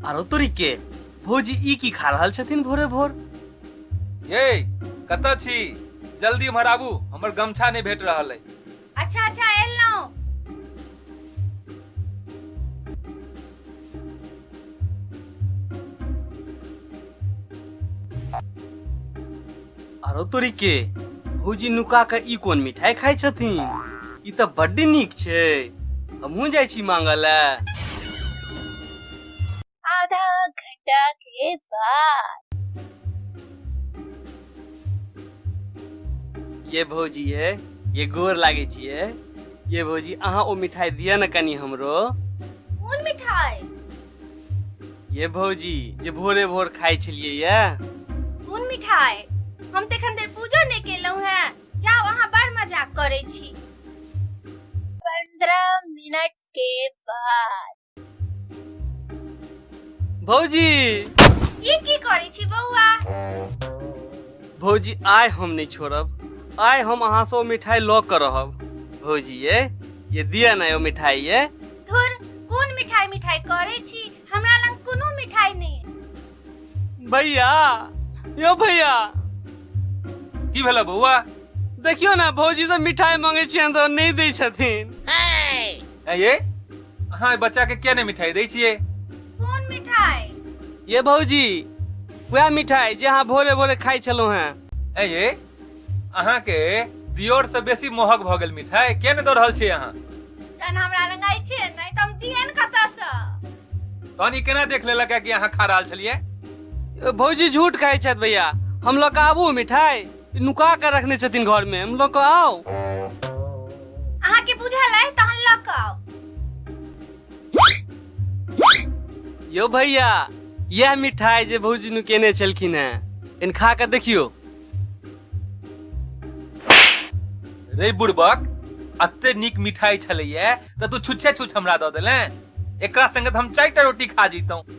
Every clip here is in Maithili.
आरो तोरी के भौजी ई की खा रहल छथिन भोरे भोर ये कतऽ छी जल्दी एम्हर आबू हमर गमछा नहि भेट रहल अइ अच्छा अच्छा एलहुँ आरो तोरी के भौजी नुका के ई कोन मिठाई खाइ छथिन ई तऽ बड्ड नीक छै हमहूँ जाइ छी मांगऽ लए आधा घंटा के बाद ये भौजी ये ये गोर लागे छिए ये भौजी अहाँ ओ मिठाई दिअ न कनी हमरो कोन मिठाई ये भौजी जे भोरे भोर खाइ छलिए ये कोन मिठाई हम तऽ एखन धरि पूजो नहि केलहुँ हेँ जाउ अहाँ बड़ मजाक करै छी पंद्रह मिनट के बाद भौजी ई की करै छी बौआ भौजी आइ हम नहि छोड़ब आइ हम अहाँ से ओ मिठाई लऽ कऽ रहब भौजी ये ये दिया ना ओ मिठाई ये धुर कोन मिठाई मिठाई करै छी हमरा लग कोनो मिठाई नहि अइ। भैया यो भैया की भेला बौआ देखियो ना भौजी से मिठाई मांगे छियन तऽ नहि दै छथिन ऐ ये अहाँ एहि बच्चाके किया नहि मिठाई दै छियै कोन मिठाई ये भौजी वएह मिठाई जे अहाँ भोरे भोरे खाइ छलहुँ हेँ ऐ ये अहाँके दियोरसँ बेसी मोहक भऽ गेल मिठाई किया नहि दऽ रहल छियै अहाँ जहन हमरा लग आइ छियै नहि तऽ हम दियन कतऽसँ तहन ई केना देख लेलक है कि अहाँ खा रहल छलियै ए, भौजी झूठ खाइ छथि भैया हम लऽ कऽ आबू मिठाई नुका के रखने छथिन घर में हम लोग आओ अहाँ के बुझल है तहन लऽ कऽ आउ यो भैया यह मिठाई जे भौजी नु केने छलखिन हैं इन खा के देखियो रे बुड़बक अते नीक मिठाई छलैया तऽ तू छुच्छे छुछ हमरा दऽ देले एकरा संगे तऽ हम चारि टा रोटी खा जैतौं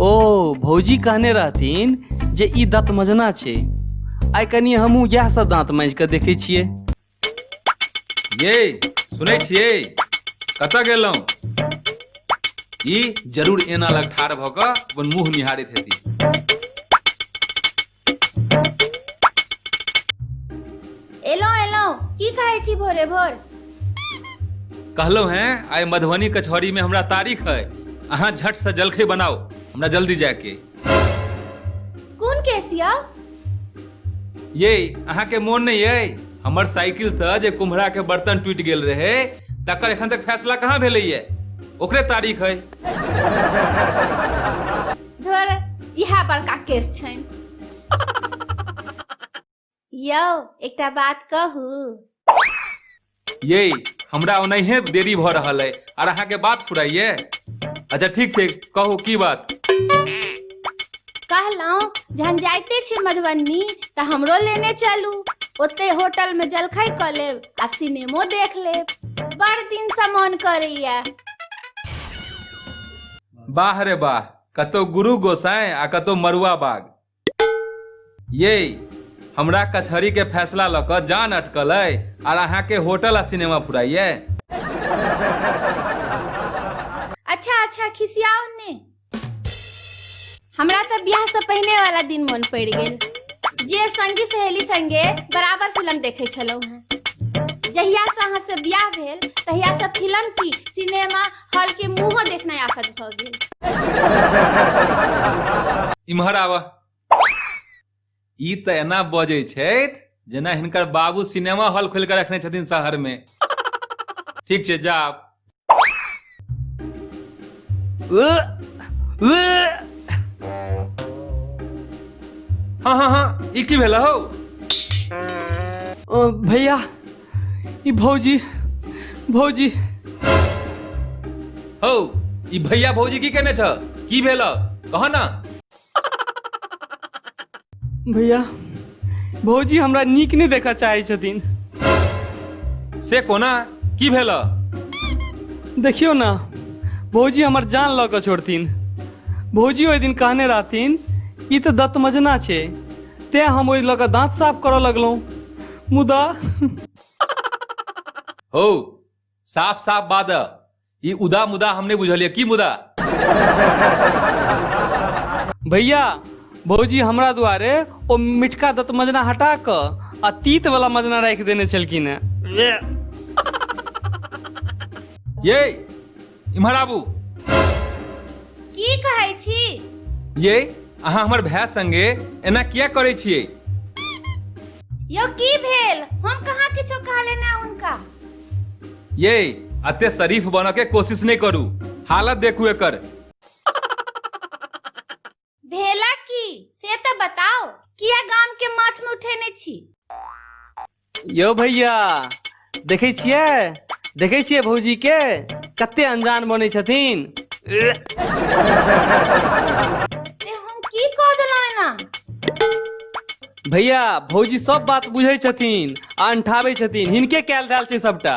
ओ भौजी कहने रहथिन जे ई दाँत मजना छै आइ कनि हमहूँ इएह सब दाँत माँजि कऽ देखै छियै ये सुनै छियै कतऽ गेलहुँ ई जरूर एना लग ठाढ़ भऽ कऽ अपन मुंह निहारैत हेती एलहुँ एलहुँ की खाइ छी भोरे भोर कहलहुँ हैं आइ मधुबनी कचहरी में हमरा तारीख है अहाँ झट से जलखै बनाओ हमरा जल्दी जाके कोन केसिया ये अहाँके मोन नहीं है हमर साइकिल से जे कुम्हरा के बर्तन टूट गेल रहे तकर एखन तक फैसला कहाँ भेलै है ओकरे तारीख है धर इएह बड़का केस छनि यौ एकटा बात कहू ये हमरा ओनाहिए देरी भऽ रहल अइ आर अहाँके बात फुराइए अच्छा ठीक छै कहू की बात कहलहुँ जहन जाइते छी मधुबनी तऽ हमरो लेने चलू ओते होटल में जलखै कऽ लेब आ सिनेमो देख लेब बड़ दिन से मन करैया बाह रे बाह कतौ गुरु गोसाई आ कतौ मरुआ बाग ये हमरा कचहरी के फैसला लऽ कऽ जान अटकल अइ आर अहाँके होटल आ सिनेमा फुराइए अच्छा अच्छा खिसियाओ ने हमरा तऽ बियाह से पहिने वाला दिन मन पड़ि गेल जे संगी सहेली संगे बराबर फिल्म देखे छलहुँ हैं जहिया से अहाँ से बियाह भेल तहिया से फिल्म की सिनेमा हॉल के मुंहो देखनाइ आफत भऽ गेल इम्हर आवा ई तऽ एना बजै छथि जेना हिनकर बाबू सिनेमा हॉल खोलि कऽ रखने छथिन शहरमे ठीक छै जा आब। हँ हँ हँ ई की भेल हौ अ, भैया ई भौजी भौजी हौ ई भैया भौजी की केने छ की भेल कह ना भैया भौजी हमरा नीक नहि देखऽ चाहै छथिन से कोना की भेल देखियौ ने भौजी हमर जान लऽ कऽ छोड़थिन भौजी ओहि दिन कहने रहथिन ई तऽ दत्त मजना छै तेँ हम ओहि लऽ कऽ दाँत साफ करऽ लगलहुँ मुदा हौ साफ साफ बात है ई उदा मुदा हम नहीं बुझलिए की मुदा भैया भौजी हमरा दुआरे ओ मिठका दत मजना हटा कऽ आ तीत वाला मजना राखि देने छलखिन हेँ ये इम्हर आबू की कहै छी ये अहाँ हमर भाय संगे एना किया करै छियै यौ की भेल हम कहाँ किछो कहले ना उनका ये अते शरीफ बन के कोशिश नहीं करू हालत देखू एकर भेला की से तो बताओ किया गाम के माथ में उठेने छी यो भैया देखै छियै देखै छियै भौजी के कते अनजान बनै छथिन से हम की कह देलहुँ एना भैया भौजी सब बात बुझै छथिन आ अंठाबै छथिन हिनके कयल धयल छै सबटा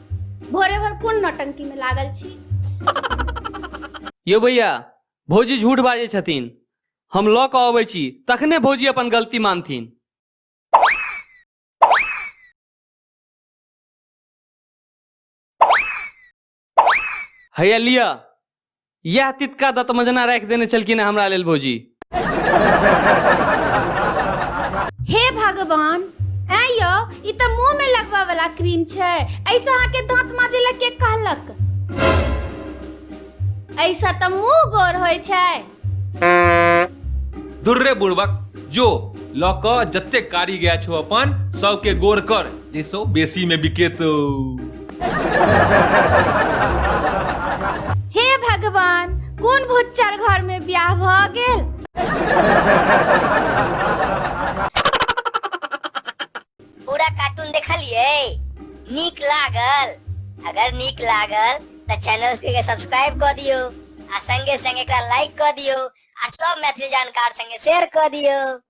भोरे भर कोन नौटंकी में लागल छी यौ भैया भौजी झूठ बाजै छथिन हम लऽ कऽ अबै छी तखने भौजी अपन गलती मानथिन हैया लिअ इएह तितका दतमे जेना राखि देने छलखिन हेँ हमरा लेल भौजी हे भगवान ऐ यौ ई तऽ मुंह में लगबा वाला क्रीम छै ऐसे अहाँ के दांत माजे ला के कहलक ऐसा तऽ मुंह गोर होय छै दुर्रे बुड़बक जो लऽ कऽ जतेक कारी गाय छौ अपन सबके गोर कर जैसो बेसी मे बिकेतौ हे भगवान कोन भुच्चर घर में ब्याह भ गेल पूरा कार्टून देखलिए नीक लागल अगर नीक लागल तो चैनल के सब्सक्राइब कर दियो आ संगे संगे एकरा लाइक कर दियो आ सब मैथिली जानकार संगे शेयर कर दियो